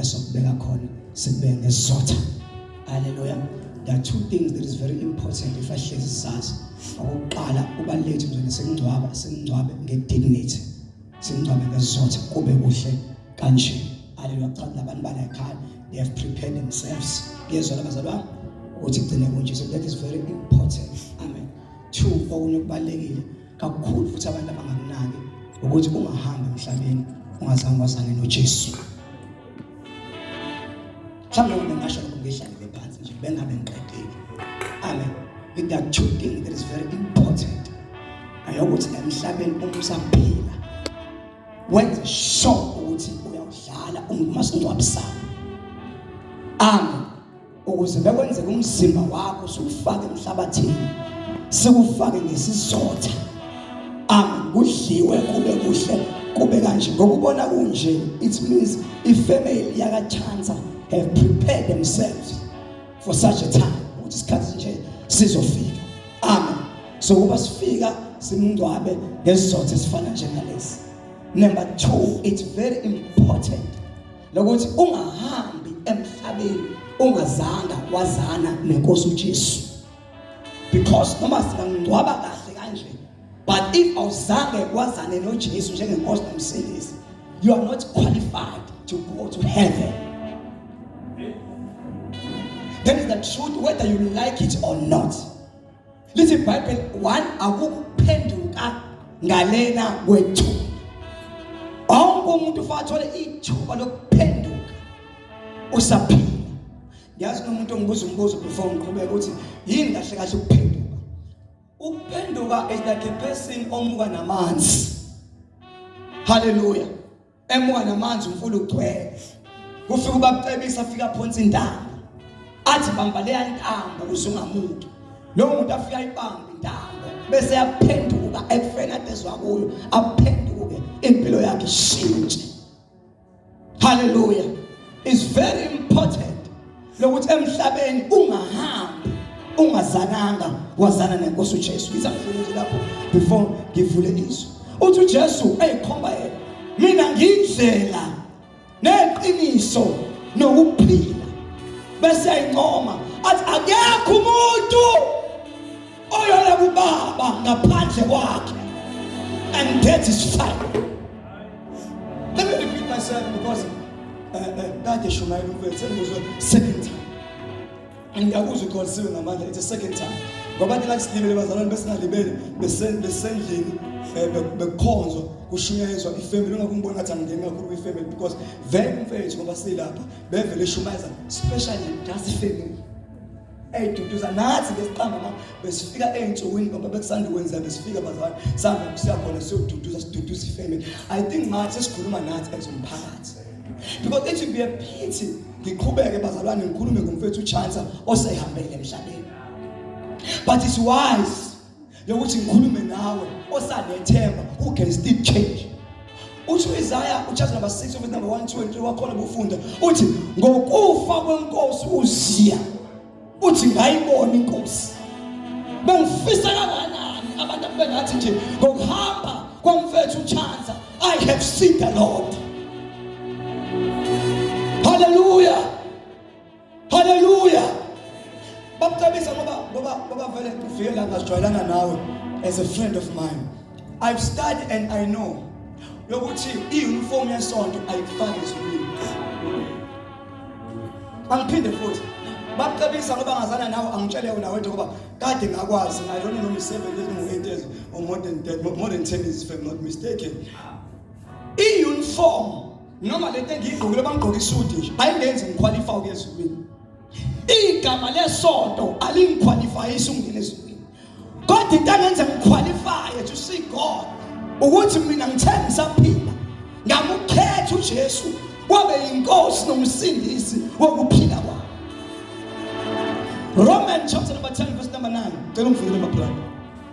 esokubeka khona sikubeke ngesizotha haleluya there are two things that is very important if ahlezi sazi okokuqala ubalulekile nje nesingcwaba singcwabe ngedignity singcwabe ngesizotha kube kuhle kanje haleluya cha labantu bala ekhaya they have prepared themselves yezwa labazalwa ukuthi gcine kunje so that is very important amen two okunye kubalekile kakhulu futhi abantu abangakunaki ukuthi ungahambi emhlabeni ungazange wazane noJesu mhlawumbe wena ngasho lokho ngehlalele phansi nje bengabe ngiqedile amen with that two thing that is very important ayokuthi emhlabeni uma usaphila wenze sure ukuthi uyawudlala ungumase ungcwabisana amen ukuze bekwenzeka umzimba wakho siwufake emhlabathini siwufake ngesizotha amen kudliwe kube kuhle kube kanje ngokubona kunje it means ifamily yakachansa have prepared themselves for such a time ukuthi isikhathi nje sizofika amen so kuba sifika simngcwabe ngesizotha esifana njengalesi number 2 it's very important lokuthi ungahambi emhlabeni ungazanga wazana nenkosi uJesu because noma singangcwaba kahle kanje but if awuzange wazane noJesu njengenkosi nomsindisi you are not qualified to go to heaven that is the truth whether you like it or not lithi ibhayibheli one akukuphenduka ngalena kwethu wonke umuntu ufanele athole ithuba lokuphenduka usaphila yazi nomuntu ongibuza umbuzo before ngiqhubeka ukuthi yini kahle kahle ukuphenduka ukuphenduka is like a person omuka namanzi haleluya emuka namanzi umfula ugcwele kufika ubabcebisa afika aphonsa intaba athi bamba leya ntamba ukuze ungamuki lo muntu afika ayibamba intamba bese yaphenduka ekufeni adezwa kuyo aphenduke impilo yakhe ishintshe haleluya is very important lokuthi emhlabeni ungahambi ungazananga wazana nenkosi uJesu ngiza ngifuna nje lapho before ngivule izwi uthi uJesu eyikhomba yena mina ngindlela neqiniso nokuphila bese ayincoma athi akekho umuntu oyona kubaba ngaphandle kwakhe and that is fine let me repeat myself because eh, eh, kade uh, uh, shumayela ukwethu sengizwe second time angiyakuzwa ikholisiwe ngamandla it's a second time ngoba thina silimele bazalwane besingalibele besendlini eh, bekukhonzwa kushunyayezwa ifamily ungakho ngibona ngathi angingeni kakhulu kwifamily because vele umfethu ngoba silapha bevele shumayeza specially just ifamily eyiduduza nathi ngesiqangoma besifika ey'nsukwini ngoba bekusanda ukwenza besifika bazali sihamba siyakhona siyoduduza siduduza ifamily i think manje sesikhuluma nathi as umphakathi because it would be a pity ngiqhubeke bazalwane ngikhulume ngomfethu uchansa osehambele emhlabeni but it's wise yokuthi ngikhulume nawe osanethemba who can still change uthi uIsaya uchapter number 6 verse number 1 2 and 3 wakhona bufunda uthi ngokufa kwenkosi uZiya uthi ngayibona inkosi bengifisa kanganani abantu abengathi nje ngokuhamba komfethu uChanza i have seen the lord Hallelujah. Bakucebisa ngoba ngoba ngoba vele ufike la ngajwayelana nawe as a friend of mine. I've studied and I know yokuthi i-uniform yesonto ayikufaki ezulwini. Angiphinde futhi bakucebisa ngoba ngazana nawe angitshele wena wethu ngoba kade ngakwazi I don't know imisebenzi ezingu-8 years or more than that, more than 10 years if I'm not mistaken. I-uniform noma le nto engiyigqokile bangigqoke isudi nje ayingenzi ngikhwalifa ukuya ezulwini igama lesonto alingikhwalifayisi ukungena ezulwini kodwa into angenze ngikhwalifaye to see god ukuthi mina ngithe ngisaphila ngamukhetha ujesu wabe yinkosi nomsindisi wokuphila kwami roman chapter number 10 verse number 9 cela ungivulele mabrother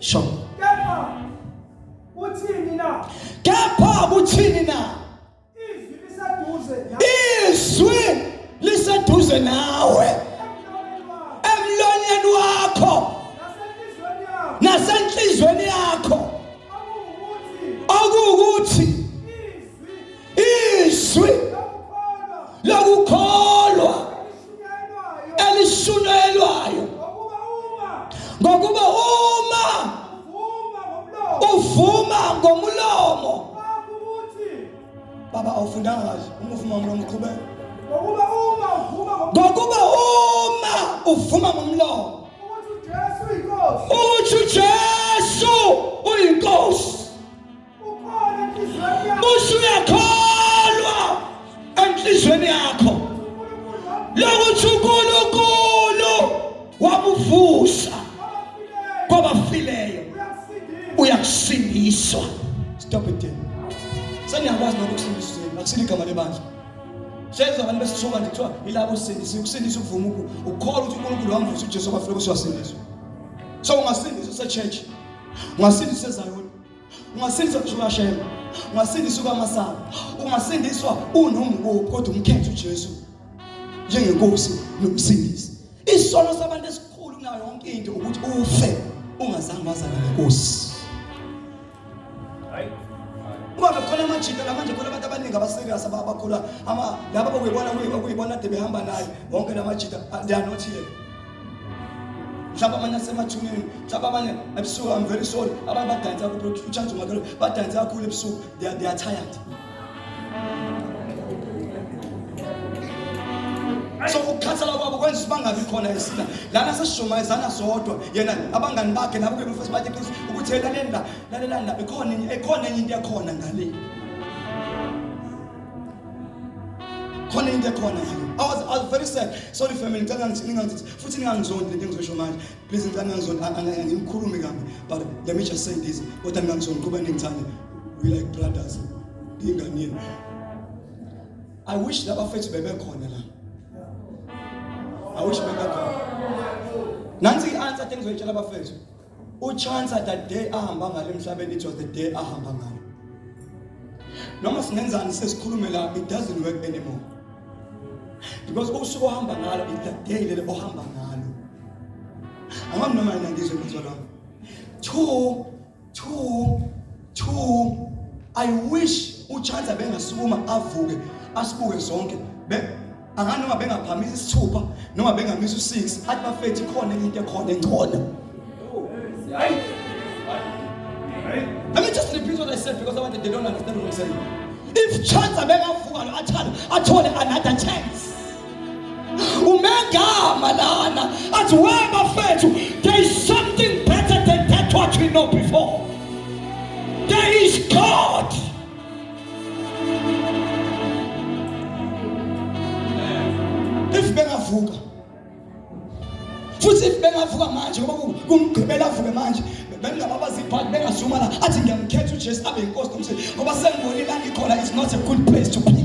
Sho. Kepha uthini na? Kepha uthini na? Izwi liseduze nawe. Izwi liseduze nawe. Emlonyeni wakho. Nasenhlizweni yakho. Okuwukuthi izwi lokukholwa elisunyelwayo ngokuba uma uvuma ngomulomo baba awufundanga kahle uma uvuma ngomlomo uqhubeka ngokuba uma uvuma ngomlomo ukuthi uJesu uyinkosi musa uyakholwa enhlizweni yakho lokuthi unkulunkulu wamuvusa kwabafileyo uyakusindiswa stop it then seniyakwazi lokho kusindiswa zenu akusile igama lebandla senza abantu besithuka nje kuthiwa yilabo sindisa ukusindisa ukuvuma ukukholwa ukuthi unkulunkulu wamvusa ujesu kwafika kusiyasindiswa so ungasindisa sechurch ungasindisa ezayoni ungasindiswa kushukashema ungasindiswa kwamasaba ungasindiswa unombuko kodwa umkhethe uJesu njengenkosi nomsindisi isono sabantu esikhulu kunayo yonke into ukuthi ufe ungazange wazana nenkosi ngoba khona amajita la manje khona abantu abaningi abaserious abakhula ama laba bokuyibona kuyibona de behamba naye wonke la majita they are not here mhlawumbe abanye asemathuneni mhlawumbe abanye ebusuku i'm very sorry abanye badansa kakhulu uchance umakelo badansa kakhulu ebusuku they are, they are tired so ukukhathala kwabo kwenza ukuthi bangabi khona esina lana sesishumayezana sodwa yena abangani bakhe nabo ke bafesi bathi qiniso ukuthi lalela lalelani la ikhona enye ikhona enye into ekhona ngale khona into ekhona I was, I was very sad sorry family ngicela ningangithi futhi ningangizondi lento engizosho manje please ngicela ningangizondi angikhulumi kabi but let me just say this kodwa ningangizondi kuba ningithande we like brothers ingane yenu I wish laba fethu bebekhona la I wish bebekhona nansi i-answer engizoyitshela abafethu uchansa the day ahamba ngalo emhlabeni it was the day ahamba ngalo noma singenzani sesikhulume la it doesn't work anymore because usuku ohamba ngalo is the day lelo ohamba ngalo angami noma yena ngizwe mthwa lami two two two i wish uchansa bengasukuma avuke asibuke zonke angani noma bengaphamisa isithupha noma bengamisa u6 athi bafethu ikhona into ekhona engcono hayi Let me just repeat what I said because I want they don't understand what I'm saying. If chance abekavuka lo athana athole another chance. Umegama lana athi we bafethu there is something better than that what we know before. There is God. if bengavuka futhi if bengavuka manje ngoba kumgqibela avuke manje bengingababaza ibhadi bengazuma la athi ngiyamkhetha ujesu abe yinkosi nomsebenzi ngoba sengibonile angikhona is not a good place to be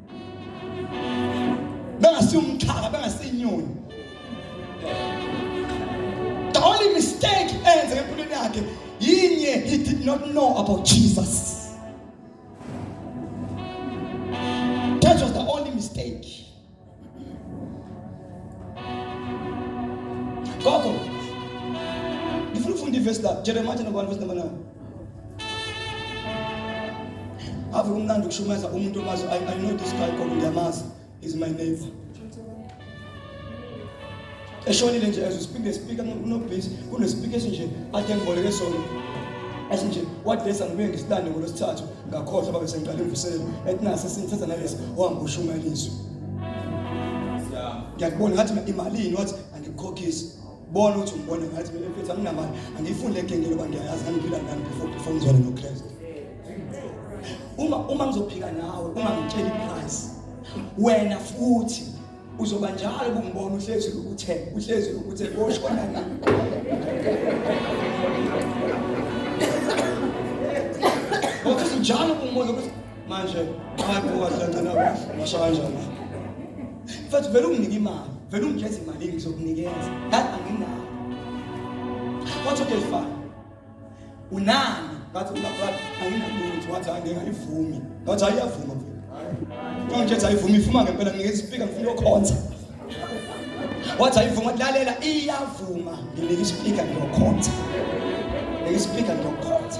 bengasiyo umchaka bengasiyinyoni the only mistake enze empilweni yakhe yinye he did not know about jesus that was the only mistake gogo ngifuna ukufunda ivesi la jeremiya chapter 1 verse number 9 ave kumnandi ukushumayeza umuntu omazi I, I know this guy called ngiyamazi is my neighbor eshonile nje as we speak the speaker kunobhisi kunespeaker esinje ade ngiboleke sona esinje wadlesa ngibuye ngisitande ngolwesithathu ngakhohlwa babe sengiqale imvuselelo etinase sinthetha nalesi ohamba ushumayela izwi ngiyakubona ngathi imalini wathi angikukhokhisi bona ukuthi ngibone ngathi mina mfethu anginamali angiyifuni le genge loba ngiyayazi angiphila ngani before before ngizwane noKristu uma uma ngizophika nawe uma ngitshela iprice wena futhi uzoba njalo kungibona uhlezi ukuthe uhlezi ukuthe koshona ngani Ngokuthi njalo kungibona ukuthi manje abantu owazangcela washa kanjani mfethu vele unginike imali vele ungijeza imali ngizokunikeza ngathi anginayo wathi okay fine unani ngathi unabrada anginalutho wathi hayi ngingayivumi ngathi hayi iyavuma mfethu ngithethe ayivumi ifuma ngempela nginikeza isipika ngifuna uyokhonza wathi ayivuma lalela iyavuma nginika isipika ngiyokhonza nginika isipika ngiyokhonza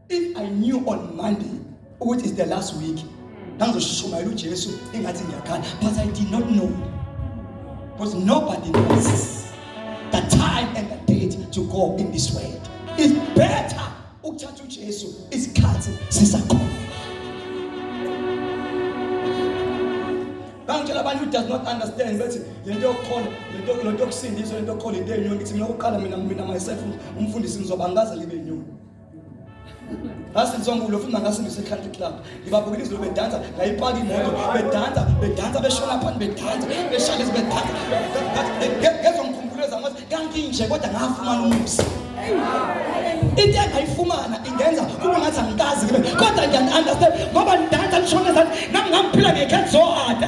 If I knew on Monday which is the last week ngangizoshumayela uJesu engathi ngiyakhala but I did not know because nobody knows the time and the date to go in this way. It's better ukuthatha uJesu isikhathi sisakhona. Bangitshela abantu who does not understand bethi lento yokukhona lento lento yokusindiswa lento yokukhona into enyoni ithi mina ukuqala mina mina myself umfundisi ngizoba ngaze libe inyoni. ngasinzongulo futhi nangasingiso i-country club ngibabukela izulu bedansa ngayipaka imoto bedansa bedansa beshona phani bedansa beshalezi bedansa ngezongikhumbuleza ngothi kanginje kodwa ngafumana umusa into engayifumana ingenza kube ngathi angikazi kodwa ngiyan-understand ngoba nidansa lishona zani nami ngangiphila ngekhe zohada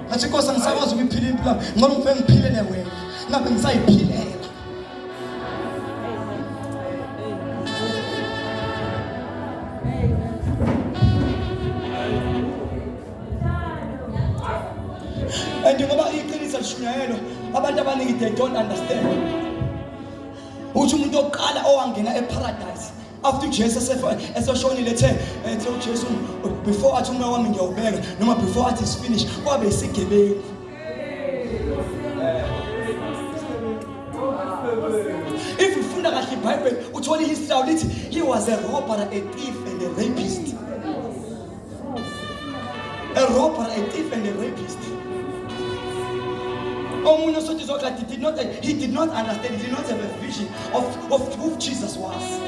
ngathi inkosi angisakwazi ukuyiphila impilo yami ngoba ngifike ngiphilele wena ngabe ngisayiphilela and ngoba iqiniso lishunyayelwa abantu abaningi they don't understand uthi umuntu oqala owangena eparadise after ujesu esefa- eseshonile ethe ethe ujesu before athi umoya wami ngiyawubeka noma before athi is finish kwabe isigebengu if ufunda kahle ibhayibheli uthola ihistory yawo lithi he was a robber a thief and a rapist A robber, a thief, and a rapist. Omunye sothi zokla did not he did not understand, he did not have a vision of, of who Jesus was.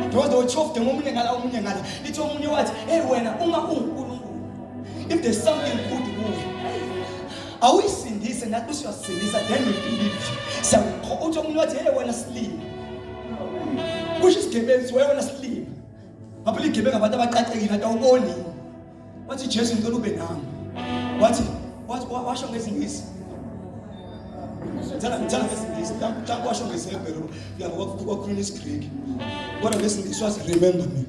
Because they were chofed ngomunye ngala omunye ngala. Lithi omunye wathi, "Hey wena uma uNkulunkulu, if there's something good kuwe, awuyisindise nathi usiyasindisa then we believe." Siyakho uthi omunye wathi, "Hey wena silima." Kusho isigebenzi, "Wena silima." Babuligebe ngabantu abaqaqekile atawuboni. Wathi Jesu ngicela ube nami. Wathi wathi washo ngezingisi. Ngicela ngicela ngezingisi. Ngicela kwasho ngezebhero. Ngiyabo kwakhuluma isiGreek. Kodwa ngezingisi wathi remember me.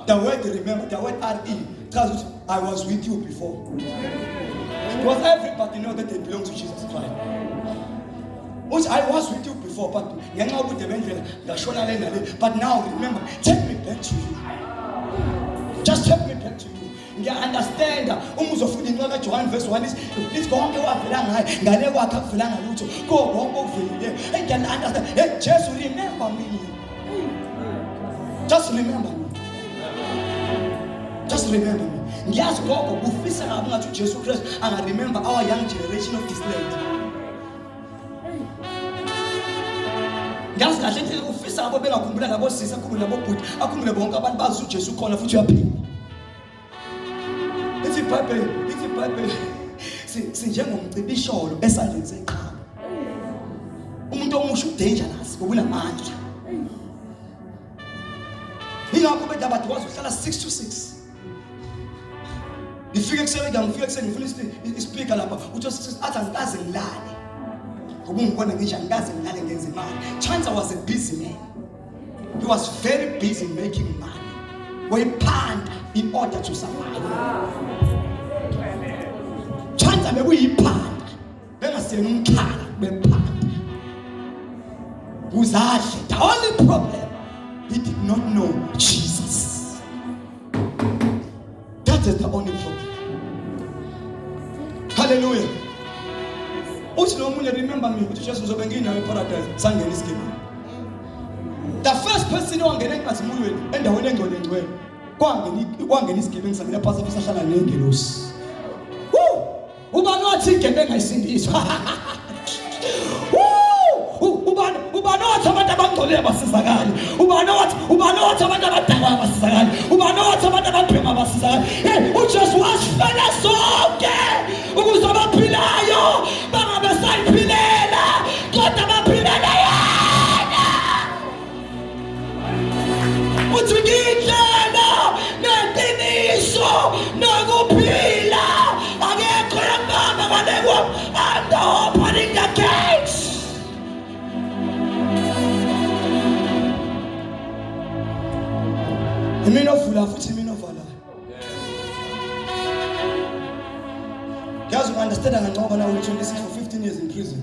The word remember, the word RE tells us I was with you before. Because everybody knows that they belong to Jesus Christ. Which I was with you before, but ngenxa yobude bendlela ngashona le nale. But now remember, take me back to you. Just take me back to you. ngiya-understanda uma uzofunda incwa kajohane verse 1 lithi konke wavela ngaye ngale kwakhe akuvelanga lutho kuwo konke okuvelile eyi ngiya-understand hey jesu remember me just remember me just remember me ngiyazi gogo kufisa kabi ungathi ujesu kristu angaremember our young generation of this land ngiyazi kahle indlela ufisa abo bengakhumbula nabosisi akhumbule nabobhuti akhumbule bonke abantu bazi ujesu ukhona futhi uyaphila ithi ibhayibheli ithi ibhayibheli sinjengomcibisholo esandleni seqhalo umuntu omusha udangerous ngokunamandla yingakho bedabade wazi uhlala 6 to 6 ngifike ekuseni ngiyam ngifike ekuseni ngifuna ispeaker lapha uthi athi angikaze ngilale ngoba ungibona ngisho angikaze ngilale ngenza imali chance was a busy man he was very busy making money wayiphanda in order to survive chance bekuyiphanda bengasiyena umkhaya bephanda uzadle the only problem he did not know Jesus that is the only problem hallelujah uthi lo munye remember me uthi Jesu uzobe nginawe paradise sangena isigibini the first person owangena enkazimulweni endaweni engcwele ngcwele kwangena kwangena isigebengu sangena phasi futhi sahlala nengelosi ubani wathi igebe engayisindiswa ubani ubani wathi abantu abangcolile basizakali ubani wathi ubani wathi abantu abadakwa basizakali ubani wathi abantu ababhema basizakali hey uJesu wasifela sonke ukuze abaphilayo bangabe sayiphilela kodwa uthi ngiyindlela neqiniso nokuphila akekho yamama ngalekwa and opening the gates imina ovula futhi imina ovalayo yazi u-understanda kancoko na uyi-26 for 15 years in prison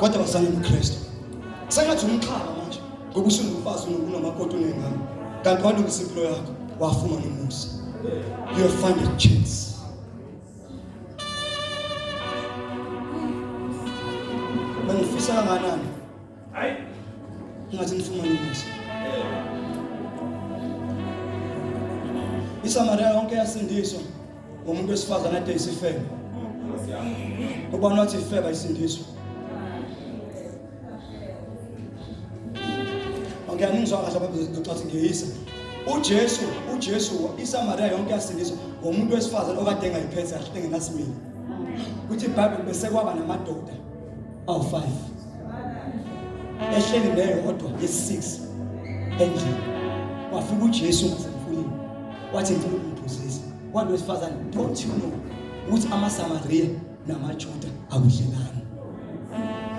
kodwa wasana umkristu sengathi umxhaba manje ngoba usungumfazi unomakoti unengane kanti walungisa impilo yakho wafumana umusa you find a chance bengifisa kanganani Hayi. Ngathi nifumana umusa. ISamaria yonke yasindiswa ngomuntu wesifazane ade isifebe. Ngoba nathi ifeba isindiswa. Angiyangizwa kahle baba ngizothi ngiyisa. uJesu uJesu iSamaria yonke yasindiswa ngomuntu wesifazane okade engayiphethe kahle engenasimilo kuthi iBhayibheli bese kwaba namadoda awu 5 ehleli naye kodwa yesi-6 endlini wafika ujesu ngasemfuleni wathi ngicela ukumphuzisa wantu wesifazane don't you know ukuthi amasamariya namajuda akudlelani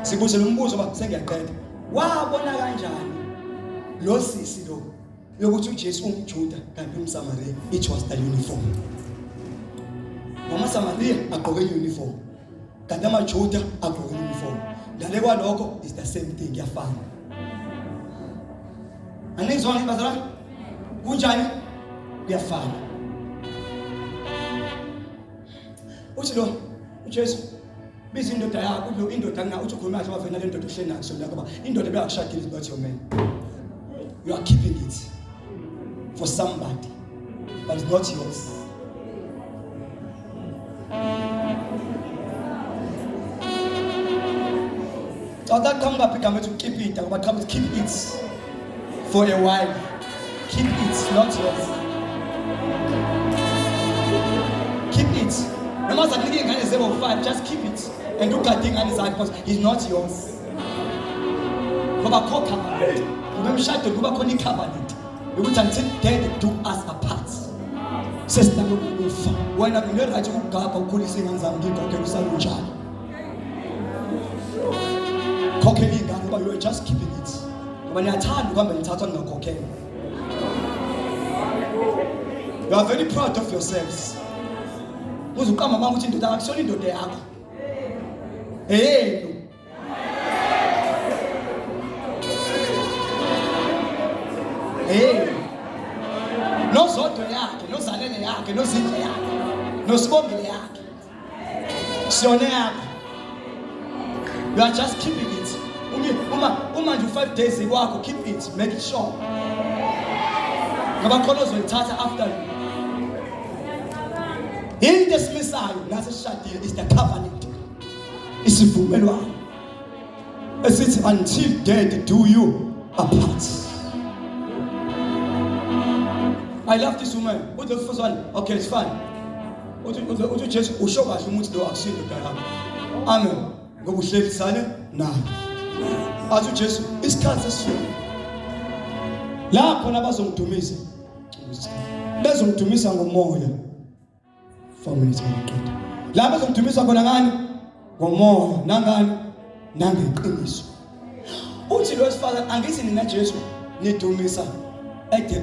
sibuze lo mbuzo uba sengiyaqeda wabona kanjani lo sisi lo yokuthi uJesu umJuda kanti umSamariya it was the uniform Mama Samariya agqoke uniform kanti amaJuda agqoke uniform ngale kwalokho is the same thing yafana Anizwa ngibazalwane kunjani kuyafana uthi lo uJesu biza indoda yakho lo indoda ngina uthi ukhuluma kahle wavena le ndoda uhleli nayo kusona ngoba indoda beyakushadile is not your man you are keeping it for somebody but it's not yours Cawuthi aqhamuka phi igama ethi ukukipita ngoba qhamuka keep it for a while. Keep it, not yours. Keep it. Noma zakunika ingane zebo five, just keep it. And ugade ingane zakhe because he's not yours. Ngoba khokha manje. Ngoba emshadweni kuba khona i-covenant yokuthi until death do us apart. Sesithandwa ukufa. Wena ngine right ukugabha ukhulisa ingane zami ngigogela usalunjalo. Khokhela ingane uba you are just keeping it. Ngoba niyathanda ukuhamba nithathwa ningakhokhela. You are very proud of yourselves. Uze uqamba mama ukuthi indoda akusona indoda yakho. Eyenu. Eyenu. Nozodwa yakhe, nozalele yakhe, nozindle yakhe, nosibongile yakhe. siyone yakho you are just keeping it uma uma nje u-five days ikwakho keep it make it sure ngoba khona ozoyithatha after you into esimisayo nase sishadile is the covenant isivumelwano esithi until dead do you apart I love this woman. Who the first one? Okay, it's fine. uthi uthi uthi Jesu usho kahle umuthi lo akusinto dala amen ngoba uhlekisane naye athi uJesu isikhathi esifika lapho nabazomdumisa bezomdumisa ngomoya 4 minutes ngaqeda la bezomdumisa khona ngani ngomoya nangani nangeqiniso uthi lo wesifazane angithi nina Jesu nidumisa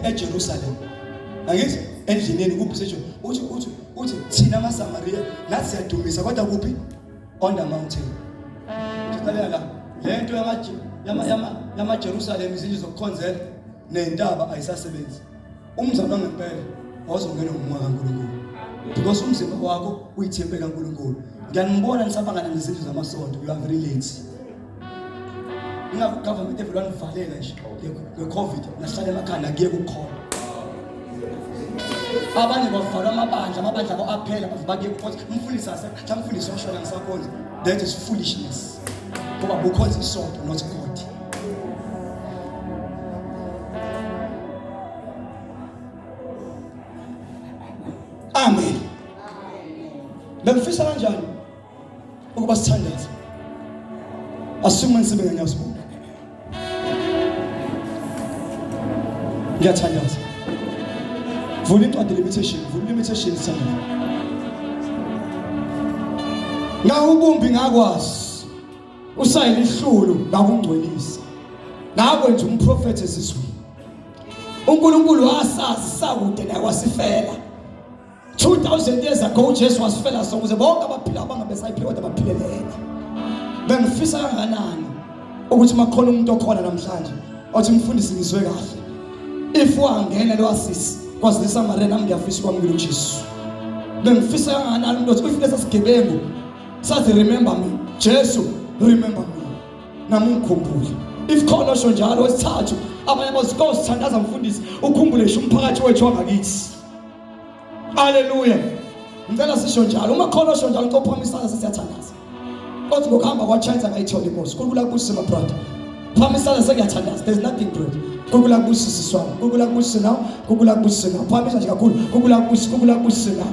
eJerusalem angithi endlineni kuphi sejo uthi uthi uthi thina amaSamaria nathi siyadumisa kodwa kuphi on the mountain siqalela la lento yama yama yama Jerusalem izinto zokukhonzela nentaba ayisasebenzi Umzalwa ngempela wazongena ngomoya kaNkulunkulu because umzimba wakho uyithempe kaNkulunkulu. Ngiyanibona nisabangana nezindlu zamasonto you are very late. Ingakho government evela nivalela nje ngeCovid nahlala emakhanda kuye kukhona. Abanye bavalwa amabandla amabandla abo aphela bakuye kukhona umfundisi ase mfundisi oshona ngisakhona that is foolishness. Ngoba bukhonza isonto not God. Amen. Bengifisa kanjani ukuba sithandaze? Asukume ngisebenze ngenyawo sibuka. Ngiyathandaza. Vula incwadi limitation, vula limitation sithandaza. Ngawubumbi ngakwazi. usayela ihlulu lakungcwelisa nakwenza umprofethi ezizweni uNkulunkulu wasazi sakude naye wasifela 2000 years ago uJesu wasifela so ukuze bonke abaphila abangabe sayiphiwe kodwa baphile lena bengifisa kanganani ukuthi makhona umuntu okhona namhlanje othi mfundisi ngizwe kahle if wangena lo asisi kwazisa marena ngiyafisa ukwamukela uJesu bengifisa kanganani umuntu othi ufike sasigebengu sathi remember me Jesu remember me namukhumbule if khona sho njalo wesithathu abanye abazikosi thandaza mfundisi ukhumbule sho umphakathi wethu wangakithi haleluya ngicela sisho njalo uma khona sho njalo uqophamisa sesiyathandaza kodwa ngokuhamba kwachance akayitholi inkosi kulula kusi my brother phamisana sengiyathandaza there's nothing great kukula kusi siswami kukula kusi nawo kukula kusi nawo phamisa nje kakhulu kukula kusi kukula kusi nawo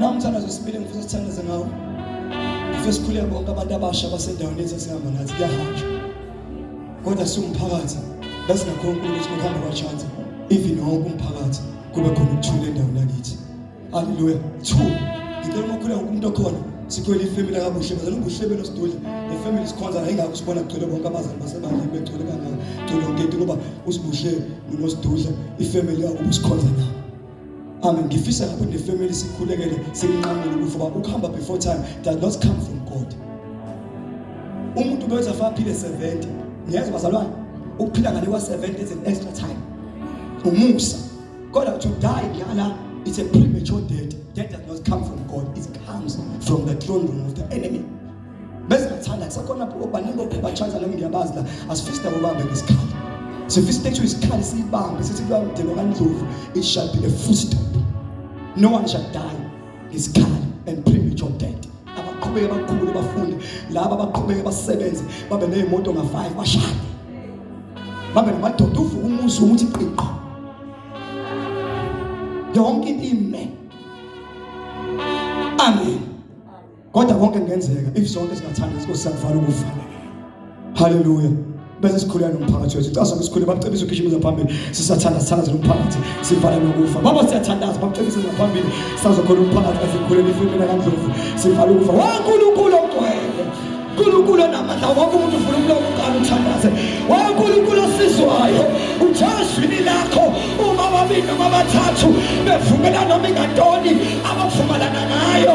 Namthandazo sibili ngifisa sithandaze ngawo. Ngifisa sikhuleke bonke abantu abasha basendaweni yethu esihamba nathi kuyahanjwa. Kodwa siwumphakathi bese nakho uNkulunkulu ukuthi ngihamba kwachance even wonke umphakathi kube khona ukuthula endaweni yakithi. Hallelujah. 2 ngicela uma ukhuleka umuntu okhona sikhwele ifamily kabuhle bazana ubuhlebelo sidudla le family sikhonza la ingakho sibona kugcwele bonke abazali basebandleni begcwele kangaka gcwele yonke into ngoba usibuhle nonosidudla ifamily yakubo sikhonza nabo Amen. Ngifisa lapho ne family sikhulekele simnqamule ukufa ba ukuhamba before time does not come from God. Umuntu beza fa phile 70. Niyazwa bazalwane? Ukuphila ngale kwa 70 is an extra time. Umusa. Kodwa to die ngiyala it's a premature death. Death does not come from God. It comes from the throne room of the enemy. bese ngathanda kusekhona baningi bophepha chance nami ngiyabazi la asifisi nabo bambe ngesikhala sifisa ukuthi isikhala siyibambe sithi kuya mdelo kandlovu it shall be a full stop no one shall die ngesikhala and premature death abaqhubeke bakhule bafunde laba abaqhubeke basebenze babe nezimoto nga 5 bashade babe namadoda uvuka umuzi ukuthi qiqo yonke into ime amen kodwa konke kungenzeka if sonke singathanda inkosi sakuvala ukufa haleluya bese sikhuleka nomphakathi wethu icasa ngisikhuleka bamcebisa ugijimisa phambili sisathanda sithandaze nomphakathi sivale nokufa baba siyathandaza bamcebisa ngaphambili sazokhona umphakathi asikhulele ifimina kandlovu sivale ukufa wankulunkulu ogcwele uNkulunkulu onamandla wonke umuntu ufuna umlomo uqala uthandaze waye uNkulunkulu osizwayo uthazwini lakho uma babili noma bathathu bevumela noma ingantoni abavumelana ngayo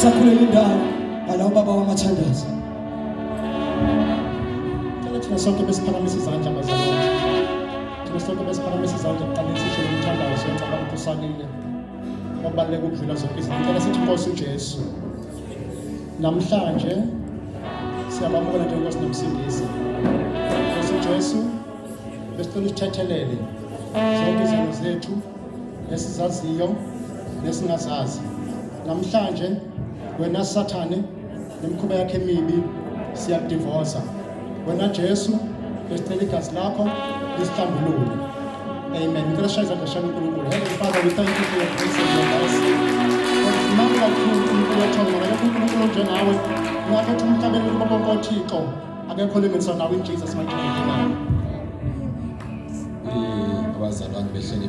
sakhulela indawo ngala ubaba wamathandaza cela thina sonke besiphakamise izandla bazalwane thina sonke besiphakamise izandla kuqaleni sisho lo mthandazo ngicabanga ukuthi usalile kwabaluleka ukudlula zonke izinto cela sithi nkosi ujesu namhlanje siyabamukela njengosi nomsindisi nkosi ujesu besicela usithethelele zonke izinto zethu nesizaziyo nesingazazi namhlanje wena sathane nemkhuba yakhe emibi siyakudivosa wena jesu besicela igazi lakho lisihlambulule amen ngicela shaya izandla shami unkulunkulu heavenly father we thank you for your grace and your mercy nami kakhulu unkulunkulu wethongo akekho unkulunkulu onjengawe ngakho ukuthi umhlabeni kubo bonke othixo akekho olinganiswa nawe in jesus mighty name amen eh, abazalwane behleli